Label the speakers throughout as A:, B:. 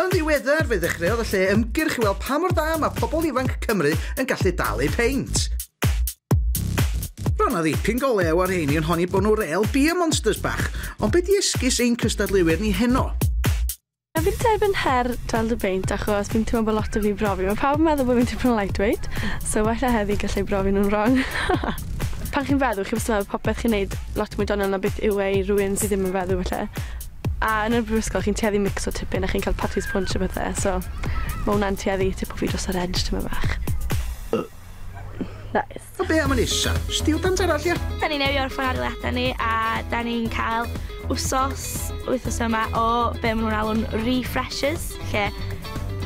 A: Yn ddiweddar, fe ddechreuodd y lle ymgyrch i weld pa mor dda mae pobl ifanc Cymru yn gallu dal eu peint. Roedd na ddipyn golew ar rheini yn honi bod nhw rel beer monsters bach, ond be di esgus ein cystadleuwyr ni heno? Na fi'n
B: credu bod yn her dal dy beint achos fi'n teimlo bod lot o fi'n brofi. Mae pawb yn meddwl bod fi'n tipyn o lightweight, so wella heddi gallai brofi nhw'n wrong. Pan chi'n feddw, chi wastad yn meddwl popeth chi'n neud lot mwy doniol na beth yw e i rywun sydd ddim yn feddw falle. A yn y brifysgol chi'n tueddu micso tipyn a chi'n cael parties punch a pethe, so ma' wnna'n tueddu tipo fi dros yr edge tymed bach. Nice. A be am yn isa?
A: Stiwdant arall, ia? Da ni'n newio ar ffynadoliadau
C: ni a da ni'n cael wsos, wythnos yma o be maen nhw'n alw'n refreshers, lle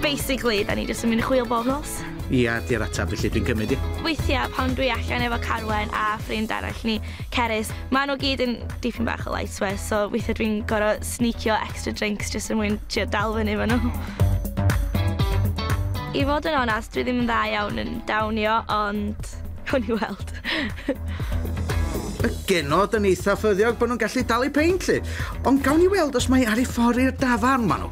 C: basically da ni jyst yn mynd i chwil bob nos. Ia, di'r atab
A: felly dwi'n cymryd i. Weithiau pan dwi
C: allan efo Carwen a ffrind arall ni, Cerys, maen nhw gyd yn dipyn bach o light swear, so weithiau dwi'n gorau snicio extra drinks jyst er mwyn trio dal fyny efo nhw. I fod yn onest, dwi ddim yn dda iawn yn dawnio, ond hwn i weld.
A: Y genod yn eitha ffyddiog bod nhw'n gallu dal i peint, lle. Ond gawn ni weld os mae ar ei ffordd i'r dafarn, maen nhw.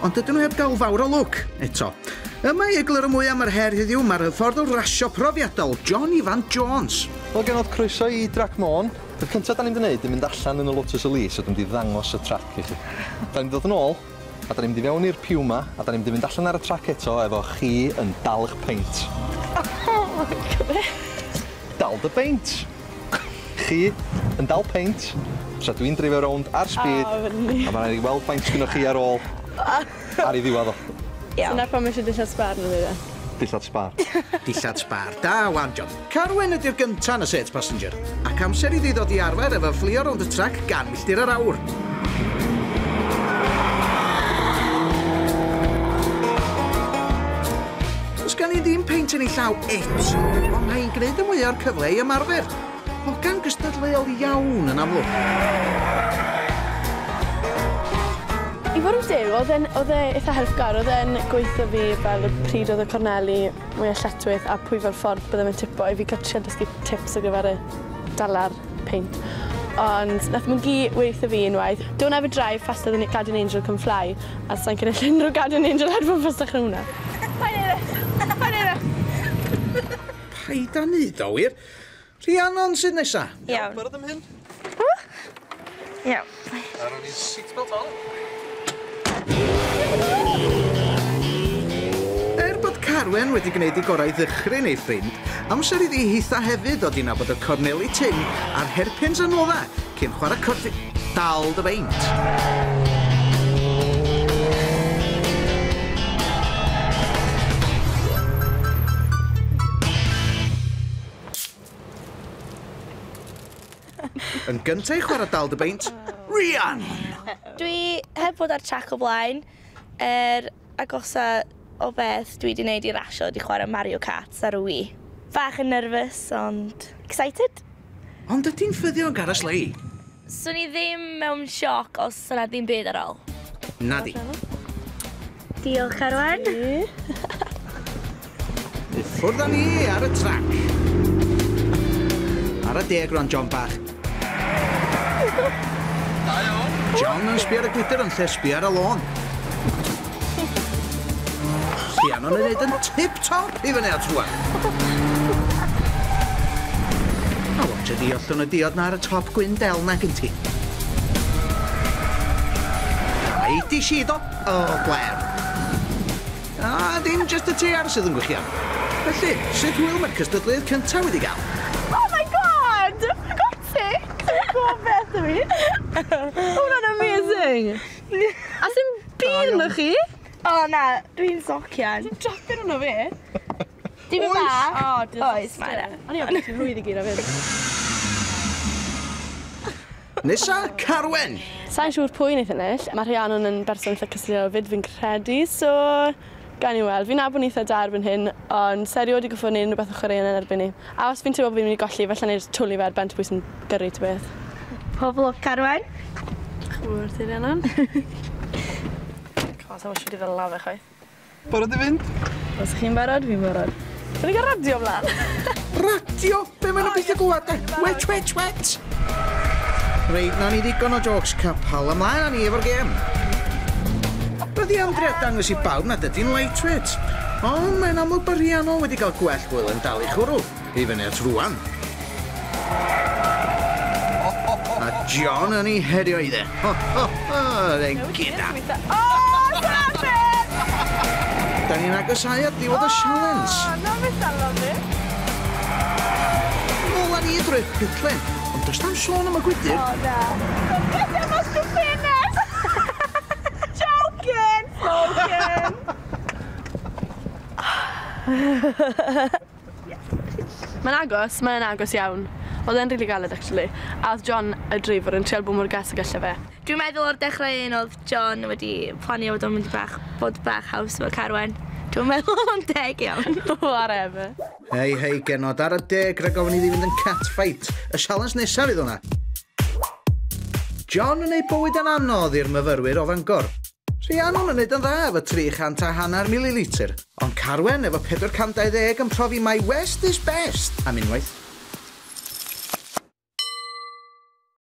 A: Ond dydyn nhw heb gael fawr o lwc, eto. Yma i egluro mwy am yr her heddiw, mae'r hyfforddwr rasio profiadol, John Ifan Jones. Wel genod, croeso
D: i Drac Môn. Peth cyntaf da ni'n mynd i wneud yw mynd allan yn y Lotus Elise a dwi'n mynd i ddangos y trac i chi. Da ni'n mynd i ddod yn ôl, a da ni'n mynd i fewn i'r Puma, a da ni'n mynd i fynd allan ar y trac eto efo chi yn dal eich peint. Oh
C: my God! Dal dy
D: beint! Chi yn dal peint tra dwi'n dreifio rownd ar speed. O, fy ni. A ma' raid i fi weld faint sgynnoch chi ar ôl ar ei ddiwadd o. Iawn. Dyna pam eisiau
B: dillad sbâr ynddi de. Dillad sbâr.
D: Dillad sbâr.
A: Da wan, John. Carwyn ydi'r gynta yn y set, Passenger. Ac amser iddi ddod i arfer efo fflio rownd y trac gan milltir yr awr. Does gen i ddim peint yn ei llaw eto, ond mae hi'n gwneud y mwyaf o'r cyfle i ymarfer. Hogan gystadleuol iawn yn amlwg.
B: I fod yn deg, oedd e'n... oedd e eitha helpgar. Oedd e'n gweutho fi fel pryd oedd y corneli mwya lletchwith a pwy fel ffordd bydde fe'n tipo i fi ca'l trio dysgu tips ar gyfer y dala'r peint. Ond nath mwnci weutho fi unwaith, Don't ever drive faster than a guardian angel can fly a sai'n cynulleidfa unrhyw guardian angel ar gwmpas dechrau hwnna. Paid neud e. Paid neud e.
A: Paid a neud o wir. Rhiannon sydd nesa. Iawn. Iawn barod am
D: hyn? O! Iawn.
C: A rown i'n
D: seatbelt on.
A: Er bod Carwen wedi gwneud i gorau ddychryn ei ffrind, amser iddi hitha hefyd ddod i nabod y corneli tynn a'r herpins anodda Cyn chwarae cwrt fi, dal dy beint! Yn gynta' i chwara' dal dy beint, Rhian! Dwi
C: heb fod ar trac o blaen er agosa o beth dwi 'di neud i rasio ydi chwarae Mario Karts ar y Wii. Bach yn nerfus ond excited! Ond ydi'n
A: ffyddiog ar y sleie? Swn i ddim
C: mewn sioc os sa 'na ddim byd ar ol. Nadi. Diolch Carwen.
A: I ffwrdd â ni ar y trac! Ara deg rwan John bach. Da iawn! John yn sbio ar y gwydr yn lle sbio ar y lôn. Rhiannon yn neud yn tip top i fyny at rwan. A watcha di ollwn y diod na ar y top gwyn del na gyn ti. Ai di sido? O, gwer. A dim jyst y teiar sydd yn gwych iawn. Felly, sut hwyl mae'r cystadleuaeth cyntaf wedi gael? Oh my
B: God! I got sick! Ti'n gwybod beth dw i? Mae hwnna'n amazing! A sdim byd ynddo chi! O na,
C: dwi'n socian. Ti'n jocian arno fi?
B: Dipyn
C: bach. O, dwi... Oes, mae yna.
B: O'n i ofn ti'n rhwydd i gyd o fyn.
A: Nesa,
B: Carwen! Sa'n siŵr pwy wneith ennill. Mae Rhiannon yn berson eitha cyslliol fyd fi'n credu, so gawn ni weld. Fi'n nabod nhw eitha da erbyn hyn, ond sa erioed wedi gorfod wneud unrhyw beth o chwaraeon yn erbyn ni. A os fi'n teimlo bod fi'n mynd i golli, falla wna i jyst twli fe ar ben tebwys yn gyrru ta beth. Pob lwc,
C: Carwen. Diolch yn fawr
B: ti, Rhiannon. Cos, sa i'n siŵr i ddala fe chwaith. Barod i fynd?
D: Os chi'n barod,
B: fi'n barod. Rwy'n cael radio mlaen. radio?
A: Be maen nhw'n beth o gwad de? Wet, wet, wet! Reit, na ni ddigon o jokes capal. Ymlaen a ni efo'r gêm. Roedd i amdri a dangos i bawb nad ydy'n lightweight. Ond mae'n amlwg bod Rhiannon wedi cael gwell hwyl yn dal ei chwrw. I fyny at rŵan. A John yn ei herio i dde. Ho, ho, ho, dde gyda. O, David! Da ni'n agosau at ddiwedd y sialens. O, na mi salo
B: fi.
A: Nôl a ni drwy'r pitlen. Ond does tam sôn am y gwydyr. O, na. Don't
B: get them as to finish. Joking, joking. Mae'n agos, mae e'n agos iawn. Odd e'n rili galed actually. A odd John y dreifor yn trial bod mor gas ag alle fe. Dwi'n meddwl o'r dechrau
C: un odd John wedi planio fod o'n mynd i bach bod bach haws efo Carwen. Dwi'm yn meddwl odd o'n deg iawn. Whatever.
B: Hei hei
A: genod ar y deg rhag ofn iddi fynd yn cat fight. Y sialens nesaf fydd hwnna. John yn ei bywyd yn anodd i'r myfyrwyr o Fangor. Rhiannon yn neud yn dda efo 300 a hanner mililitr, ond Carwen efo 420 yn profi mai west is best am unwaith.